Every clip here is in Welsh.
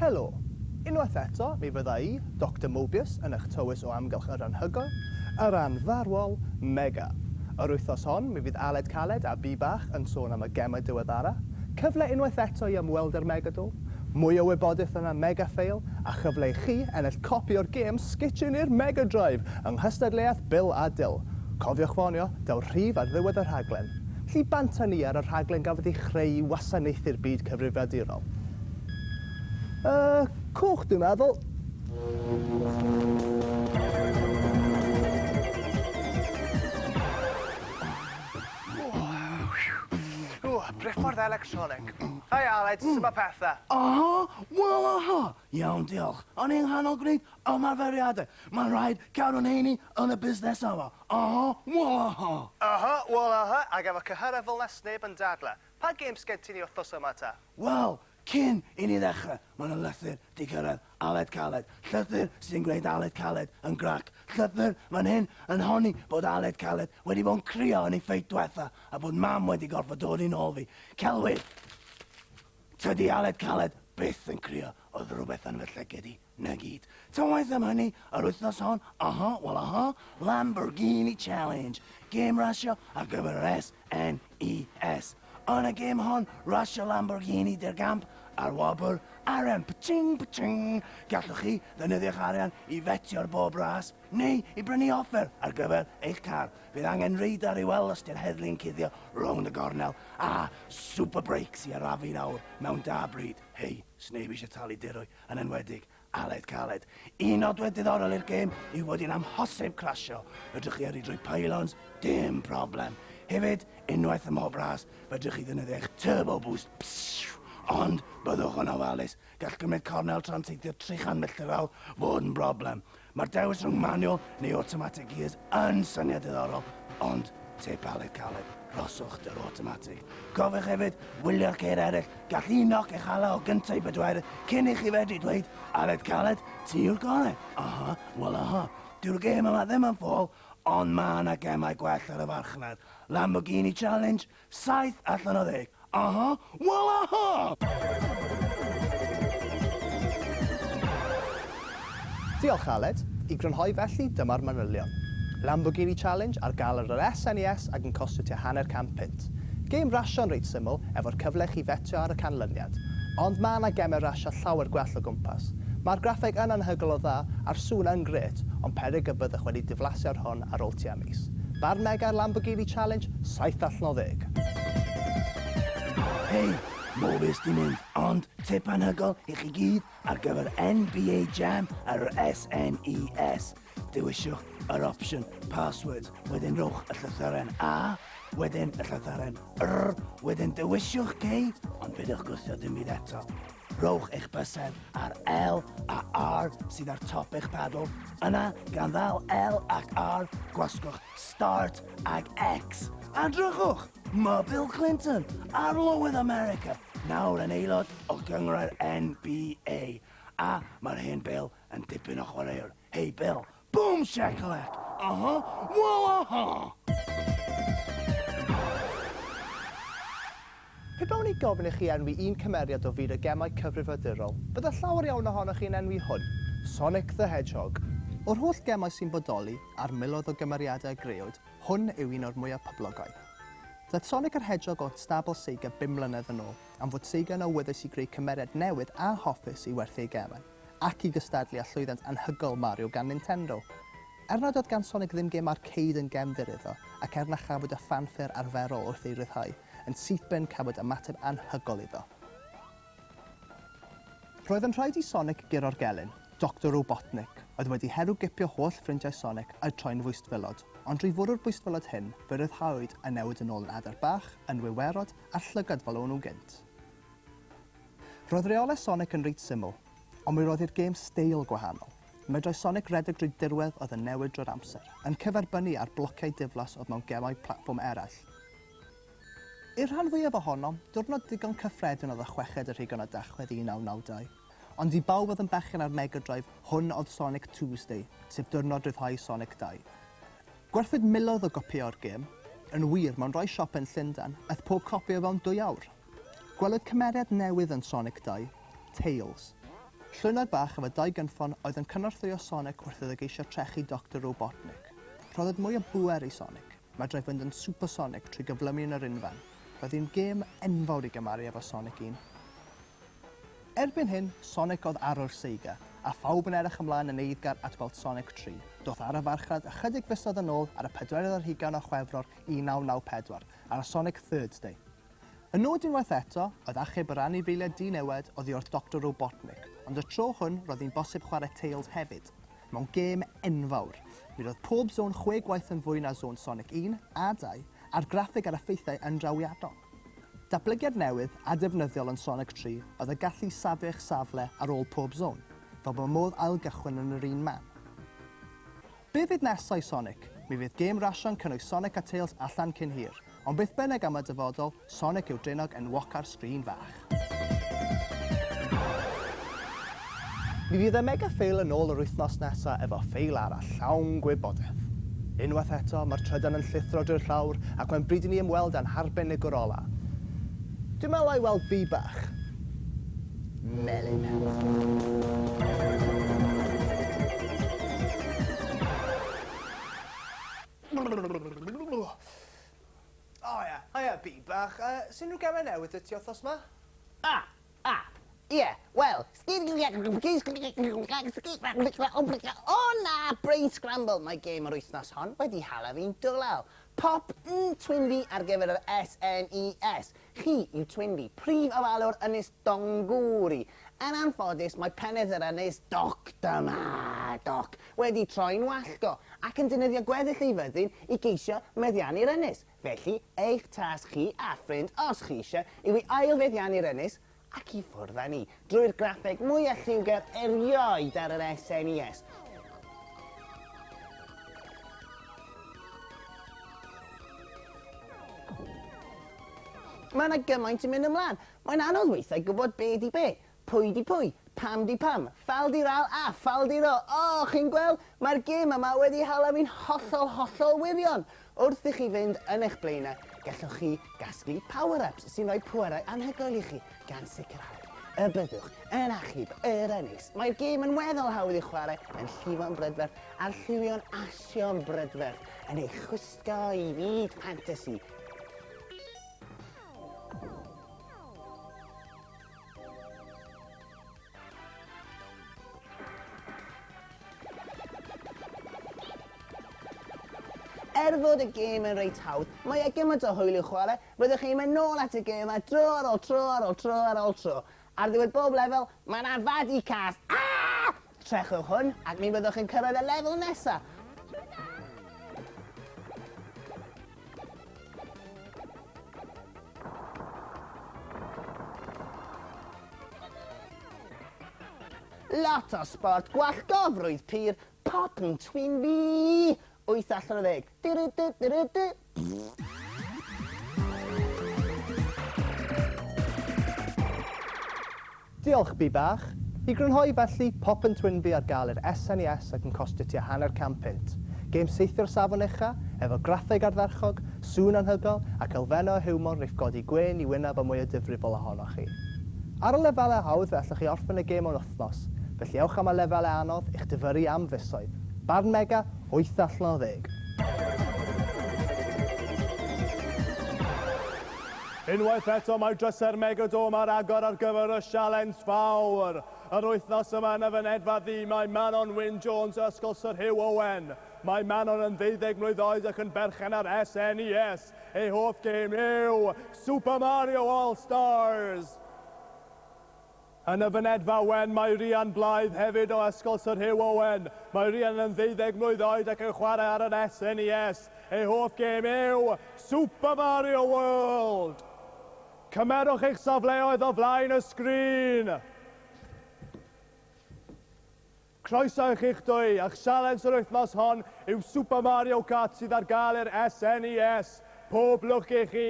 Helo! Unwaith eto, mi fydda i, Doctor Mobius, yn eich tywys o amgylch yr anhygoel, yr anfarwol, Mega. Yr wythnos hon, mi fydd Aled Caled a Bi Bach yn sôn am y gemau diweddara, cyfle unwaith eto i ymweld â'r Megadol, Mwy o wybodaeth yna Megafail a chyfle i chi ennill copi o'r gêm Sketchyn i'r Mega Drive yng nghystadleuaeth Bil a Dil. Cofiwch ffonio daw rhif ar ddiwedd y rhaglen. Lli banta ni ar y rhaglen gafodd ei chreu i wasanaethu'r byd cyfrifiadurol. Y cwch dwi'n meddwl. Ww, briffordd electronig. Hei Aled, sut mae pethau? Aha, wel aha! Iawn diolch. O'n i'n nghanol gwneud ymarferiadau. Mae'n rhaid cadw'n heini yn y busnes yma. Aha, wel aha! Aha, wel aha, ac efo cyhyrau fel 'na 'sneb yn dadlau. Pa gêms gen ti i ni wythnos yma ta? Wel, Cyn i ni ddechrau, mae 'na lythyr 'di cyrraedd Aled Caled, llythyr sy'n gwneud Aled Caled yn grac, llythyr fan hyn yn honni bod Aled Caled wedi bod yn crio yn ei ffeit dwetha a bod Mam wedi gorfod dod i nôl fi. Celwydd! Tydi Aled Caled byth yn crio, oedd rhywbeth yn fy llygid i. 'Na gyd. Ta waeth am hynny, yr wythnos hon, aha, wel aha, Lamborghini Challenge, gêm rasio ar gyfer yr SNES. Yn y gêm hon, rasio Lamborghini De'r Gamp a'r wobr, arian, pching, pching! Gallwch chi ddefnyddio'ch arian i fetio ar bob ras, neu i brynu offer ar gyfer eich car. Bydd angen radar i'w weld os di'r heddlu yn cuddio rownd y gornel, a super brakes i arafu nawr mewn da bryd. Hei, sneb eisiau talu dirwy. yn enwedig Aled Caled. Un nodwedd diddorol i'r gêm yw fod hi'n amhosib clasio. Fedrwch chi yrru drwy pylons, dim problem. Hefyd, unwaith ym mhob ras, fedrwch chi ddefnyddio eich turbo boost. Psiw! Ond, byddwch yn ofalus. Gall gymryd cornel tra'n teithio 300 milltir yr awr fod yn broblem. Mae'r dewis rhwng manual neu automatic gears yn syniad diddorol, ond tip Aled Caled, rhoswch dwr automatic. Cofiwch hefyd wylio'r ceir eraill, gall un noc eich hala o gynta i bedwerydd cyn i chi fedru dweud, Aled Caled, ti yw'r gorau! Aha, wel aha. Dyw'r gêm yma ddim yn ffôl, ond mae yna gemau gwell ar y farchnad. Lamborghini Challenge? Saith allan o ddeg! Aha! Wel aha! Diolch Aled. I grynhoi felly, dyma'r manylion. Lamborghini Challenge ar gael ar yr SNES ac yn costio tua hanner can punt. Gêm rasio'n reit syml, efo'r cyfle i chi fetio ar y canlyniad. Ond ma' 'na gemau rasio llawer gwell o gwmpas. Ma'r graffeg yn anhygoel o dda, a'r sŵn yn grêt, ond peryg y byddwch wedi diflasio'r hwn ar ôl tua Ffabis. Barn Meg ar Lamborghini Challenge, saith allan o ddeg. Hei, Mowbes di mynd, ond tip anhygol i chi gyd ar gyfer NBA Jam ar yr SNES. Dewiswch yr opsiwn Passwords, wedyn rhowch y llythyren A, wedyn y llythyren R, wedyn dewiswch K, ond peidiwch gwthio dim byd eto. Rhowch eich bysedd ar L a R sydd ar top eich pedal. Yna, gan ddal L ac R, gwasgwch Start ag X. A drychwch! Mae Bill Clinton, Arlywydd America, nawr yn aelod o gynghrair NBA. A mae'r hen Bill yn dipyn o chwaraewr. Hei Bill, Boom shakalak! Aha! Wel aha! Pe bawn i gofyn i chi enwi un cymeriad o fyd y gemau cyfrifiadurol, bydde llawer iawn ohonoch chi yn enwi hwn, Sonic the Hedgehog. O'r holl gemau sy'n bodoli, a'r miloedd o gymeriadau a greawyd, hwn yw un o'r mwyaf poblogaidd. Daeth Sonic yr Hedgehog o stabl Sega bum mlynedd yn ôl, am fod Sega yn awyddus i greu cymeriad newydd a hoffus i werthu ei gemau. ac i gystadlu â llwyddiant anhygoel Mario gan Nintendo. Er nad oedd gan Sonic ddim gêm arcade yn gefndir iddo, ac er na chafwyd y ffanffer arferol wrth ei ryddhau, yn sythben cafwyd ymateb anhygoel iddo. Roedd yn rhaid i Sonic guro'r gelyn, Doctor Robotnik, oedd wedi herwgipio holl ffrindiau Sonic a'u troi'n fwystfilod, ond drwy fwrw'r bwystfilod hyn, fe ryddhawyd a newid yn ôl yn adar bach, yn wiwerod, a'r llygad fel o'n nhw gynt. Roedd reolau Sonic yn reit syml, ond mi roedd i'r gêm steil gwahanol. Medrai Sonic redeg drwy dirwedd oedd yn newid drwy'r amser, yn cyferbynnu â'r blociau diflas oedd mewn gemau platfform eraill. I'r rhan fwyaf ohonom, diwrnod digon cyffredin oedd y chweched y rhugain o Dachwedd 1992. Ond i bawb oedd yn bechgyn ar Mega Drive, hwn oedd Sonic Tuesday, sef diwrnod ryddhau Sonic 2. Gwerthwyd miloedd o gopïau o'r gêm. Yn wir, mewn rhai siopau yn Llundain, aeth pob copi o fewn dwy awr. Gwelwyd cymeriad newydd yn Sonic 2, Tails. Llwynog bach efo dau gynffon oedd yn cynorthwyo Sonic wrth iddo geisio trechu Doctor Robotnik. Rhoddwyd mwy o bŵer i Sonic, medrau fynd yn supersonic trwy gyflymu yn yr unfen. Roedd hi'n gêm enfawr i gymaru efo Sonic 1. Erbyn hyn, Sonic oedd arwr Sega, a phawb yn edrych ymlaen yn eiddgar at weld Sonic 3. Doth ar y farchnad ychydig fisoedd yn ôl ar y pedwerydd ar hugain o Chwefror 1994, ar y Sonic Thirds Day. Y nod unwaith eto oedd achub yr anifeiliaid dinewed oddi wrth Doctor Robotnik, ond y tro hwn roedd hi'n bosib chwarae Tails hefyd, mewn gêm enfawr. Mi roedd pob zôn chwe gwaith yn fwy na zôn Sonic un a dau, a'r graffeg a'r effeithiau yn drawiadol. Datblygiad newydd a defnyddiol yn Sonic tri oedd y gallu i safio eich safle ar ôl pob zôn, fel bod modd ail-gychwyn yn yr un man. Be fydd nesa i Sonic? Mi fydd gêm rasio'n cynnwys Sonic a Tails allan cyn hir. Ond beth bynnag am y dyfodol, Sonic yw draenog enwoca'r sgrin fach. Mi fydd y Mega Fail yn ôl yr wythnos nesa efo ffeil arall llawn gwybodeth. Unwaith eto, mae'r trydan yn llithro drwy'r llawr ac mae'n bryd i ni ymweld â'n harbenigwr ola. Dwi'n meddwl 'na i weld bee bach. melyn O ia, haia Bi bach, yy sut unrhyw gemau newydd 'da ti wthnos 'ma? O! O! Ie, wel, o na, brain scramble, mae gêm yr wythnos hon wedi hala fi'n dwlel. Pop yn Twynfi ar gyfer yr SNES. Chi yw Twynfi, prif ofalwr Ynys Dongwri. Yn anffodus, mae penedd yr ynys, Doc Dyma Doc, wedi troi'n wallgo, ac yn defnyddio gweddill ei fyddin i geisio meddiannu'r ynys. Felly, eich tasg chi a ffrind, os chi eisiau, yw i ail-feddiannu'r ynys, ac i ffwrdd â ni drwy'r graffeg mwyaf lliwgar erioed ar yr SNES. Mae yna gymaint yn mynd ymlaen. Mae'n anodd weithiau gwybod be di be, pwy di pwy, pam di pam, fal di ral a fal di ro. O, chi'n gweld? Mae'r gêm yma wedi hala fi'n hollol, hollol wirion. Wrth i chi fynd yn eich blaenau, gallwch chi gasglu power-ups sy'n rhoi pwerau anhygoel i chi, gan sicrhau y byddwch yn achub yr ynys. Mae'r gêm yn weddol hawdd i'w chwarae yn llifo'n brydferth a'r lliwio'n asio'n brydferth yn ei chwisgo i fyd ffantasi. Er fod y gêm yn reit hawdd, mae e gymaint o hwyl i'w chwarae, byddwch chi'n mynd nôl at y gêm yma tro ar ôl tro ar ôl tro ar ôl tro. Ar ddiwedd bob lefel, mae yna fadi cas! Aa! Trechwch hwn, ac mi fyddwch yn cyrraedd y lefel nesaf! Lot o sbort gwallgofrwydd pur pop yn twin fi! Wyth allan o ddeg. Dyrydyrydyryddy! Diolch, Bee Bach. I grynhoi felly, pop yn Twinbee ar gael i'r SNES ac yn costio tua hanner can punt. Gêm saethu o'r safon ucha', efo graffeg ardderchog, sŵn anhygoel, ac elfennau o hiwmor rif godi gwên i wyneb a mwy o difrifol ohonoch chi. Ar y lefelau hawdd fe allwch chi orffen y gêm mewn wythnos, felly ewch am y lefelau anodd i'ch difyrru am fisoedd. Barn Mega, wyth allan o ddeg. Unwaith eto mae drysau'r Megadome ar agor ar gyfer y Sialens Fawr. Yr wythnos yma yn y fynedfa ddu mae Manon Wyn Jones o Ysgol Syr Hugh Owen. Mae Manon yn ddeuddeg mlwydd oed ac yn berchen ar SNES. Ei hoff gêm yw Super Mario All Stars! Yn y fynedfa wen mae Rhian Blythe hefyd o Ysgol Sir Hugh Owen. Mae Rhian yn ddeuddeg mlwydd oed ac yn chwarae ar yr SNES. Ei hoff gêm yw Super Mario World! Cymerwch eich safleoedd o flaen y sgrin! Croeso i chi'ch dwy, a'ch sialens yr wythnos hon yw Super Mario Kart sydd ar gael i'r SNES. Pob lwc i chi!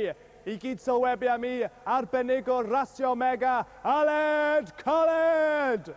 I gyd sylwebu am i arbenigwr rasio Mega, Aled Colled!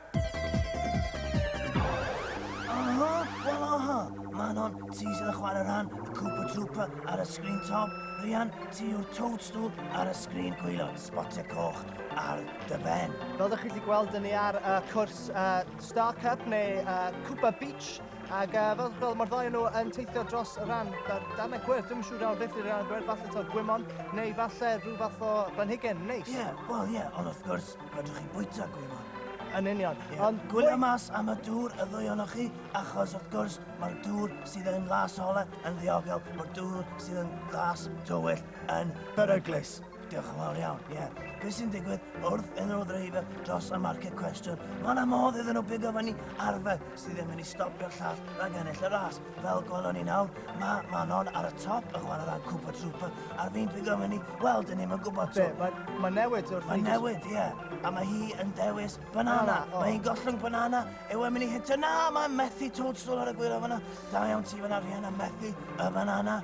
Aha! Wel aha! Manon, ti sydd yn chwarae rhan y Koopa Troopa ar y sgrin top, Rhian, ti yw'r Toadstool ar y sgrin gwylod, sbotiau coch ar dy ben. Fel dych chi wedi gweld, dyn ni ar uh, cwrs uh, Star Cup neu uh, Cooper Beach ac uh, fel, fel mae'r ddau nhw yn teithio dros y ran dar, darnau gwyrdd, dwi'n siŵr iawn beth i'r ran gwyrdd, falle to gwymon neu falle rhyw fath o blanhigyn neis. Ie, yeah, wel ie, yeah, ond wrth gwrs, rydych chi'n bwyta gwymon. Yn union. Yeah. Ond gwylio mwy... mas am y dŵr y ddwy onoch chi, achos wrth gwrs mae'r dŵr sydd yn las ole yn ddiogel, mae'r dŵr sydd yn las tywyll yn beryglus. Diolch yn fawr iawn, ie. Yeah. Beth sy'n digwydd wrth iddyn nhw ddreifio dros y market cwestiwn? Mae yna modd iddyn nhw bigo fyny arfer sydd ddim yn ei stopio'r llall rhag ennill y ras. Fel gwelwn ni nawr, mae Manon ar y top y chwarae rhan Cooper Trooper a'r fi'n bigo fyny, wel, dyn ni'n gwybod to. Mae ma newid wrth Mae newid, ie. Yeah. A mae hi yn dewis banana. Oh, oh. Mae hi'n gollwng banana, yw e'n mynd i hitio. Na, mae methu Toadstool ar y gwir o fyna. Da iawn ti fyna, Rhianna, methu y banana.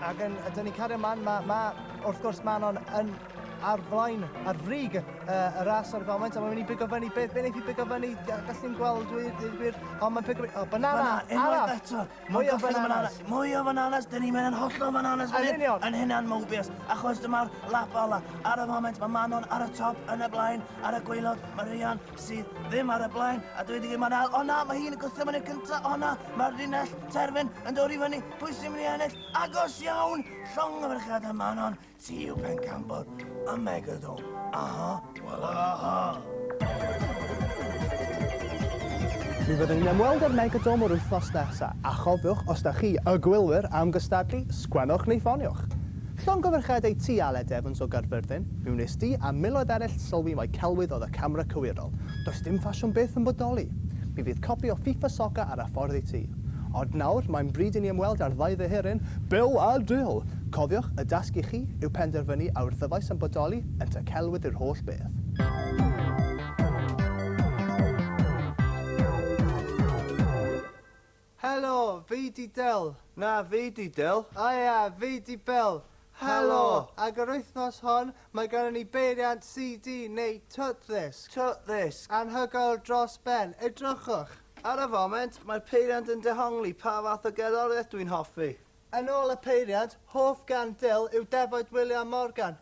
Ac yn, ydyn ni'n cario man, mae, ma, wrth gwrs Manon yn ar flaen, ar frig uh, y ras ar y foment, a mae'n mynd i bigo fyny, beth beth wneud i bigo fyny, gallu ni'n gweld wir, dweud gwir, o mae'n pigo fyny, o banana, banana arall, eto, mwy o bananas, mwy o bananas, dyn ni'n mynd yn hollol bananas fan hyn, yn hynna'n mobius, achos dyma'r lap ola, ar y foment mae Manon ar y top, yn y blaen, ar y gweilod, mae Rhian, sydd ddim ar y blaen, a dwi wedi gwneud mae'n ail. O na, mae hi'n y gwthio mynd i'r cynta. O na, mae'r linell terfyn yn dod i fyny. Pwy sy'n mynd i ennill? Agos iawn! Llong y ferchad a Manon, ti yw pencampwr y megadw. Aha, wel aha. Mi fyddwn ni'n ymweld â'r Megadome yr wythnos nesaf, a chofiwch, os da chi, y gwylwyr, am gystadlu, sgwennwch neu ffoniwch. Llongyfarchiadau ti Aled Evans o Gaerfyrddin, mi wnes di a miloedd eraill sylwi mai celwydd oedd y camera cywirol. Does dim ffasiwn byth yn bodoli. Mi fydd copi o FIFA Soccer ar y ffordd i ti. Ond nawr, mae'n bryd i ni ymweld â'r ddau ddyheryn, Bill a Jill! Cofiwch, y dasg i chi yw penderfynu a yw'r ddyfais yn bodoli yn tŷ celwydd yw'r holl beth. Helo, fi 'di Del. Na, fi 'di Del. O ia, fi 'di Bel. Helo! Ac yr wythnos hon, mae gynnon ni beiriant CD neu twtddisg. Twtddisg. Anhygoel dros ben. Edrychwch! Ar y foment, mae'r peiriant yn dehongli pa fath o gerddoriaeth dwi'n hoffi. Yn ôl y peiriant, hoff gân Del yw Defaid Wiliam Morgan.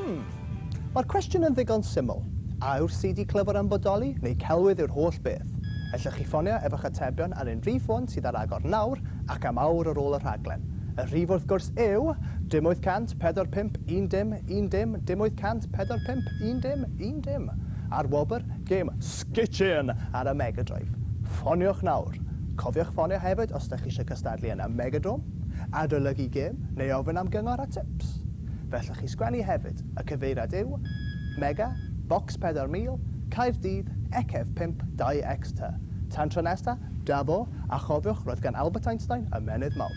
Hmm. Mae'r cwestiwn yn ddigon syml. A yw'r CD clyfar yn bodoli, neu celwydd yw'r holl beth? Ellwch chi ffonio efo'ch atebion ar unrhyw ffôn sydd ar agor nawr ac am awr ar ôl y rhaglen. Y rhif wrth gwrs yw, dim 845 un dim, un dim, dim 845 un dim, un dim. A'r wobr? Gêm. Kitchen ar y Mega Drive. Ffoniwch nawr! Cofiwch ffonio hefyd os dych chi eisiau cystadlu yn y Megadome, adolygu gêm neu ofyn am gyngor a tips. Fe allwch chi sgwennu hefyd, y cyfeiriad yw, Mega, Bocs 4000, Caerdydd, XF 5, 2X tŷ. Tan tro nesa, da bo, a chofiwch, roedd gan Albert Einstein ymennydd mawr.